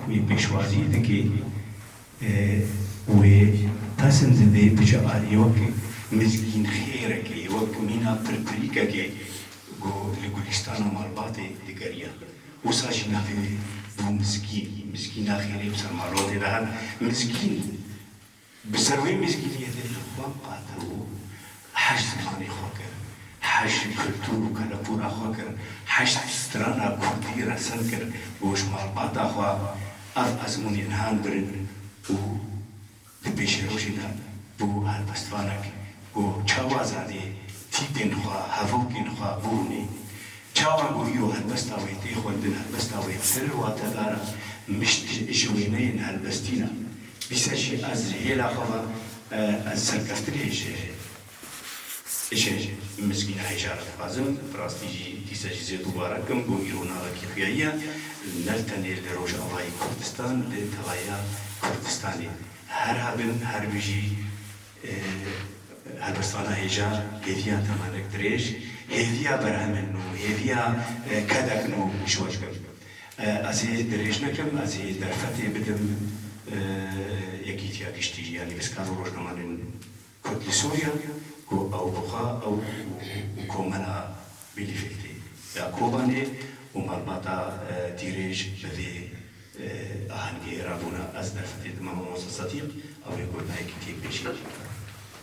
Wê pêşwazî dike wê pezin dide biçe aliyê wek mizgîn xêrekê, wek mîna pirpirîkekê ku li gulîstana malbatê digeriya. Wisa jî navê wê bû mizgîn. Mizgîna xêrê bi ser malbatê de hat. Mizgîn. Bi ser wê mîzgîliyetê li xwe qatil bû, heşt zimanê xwe kir, heşt kultûr û kelepûra xwe kir, heşt strana kurdî resil kir goş malbata xwe, ev ezmûnên han birin û di pêşerojê de bû helbestvanek ku çawa zanê tîpên xwe, hevokên xwe bû hûnê. Çawa ku îro helbesta wê tê xwendin helbesta wê sirr watedara mişt ji wêneyên helbestîn a. Dîsa jî ez ji hêla xwe ve ez serkeftinê ji ji mizgîna hêja re dixwazim. Bi rastî jî dîsa jî zêde warek im bo îro navekî xuyayî ye. Ne tenê li Rojavayê Kurdistan li telaya Kurdistanê. Her hebin her bijî. Heber sala hêja hêviya temenek dirêj, hêviya berhemên nû, hêviya kedek nû şiwa dikim. Ez ê dirêj nekim, ez ê derfetê bidim Yekîtiya Giştî yanî Piskar û Rojnamanên Kurd li Sûriya ku ew bixwe ew û komela Bîlîfîtê ya Kobanê û malbata Tîrêj bi vê ahengê ra bûne, Ez derfetê dime mamoste Sedîq, ew ê got dayikî tê pêşîn.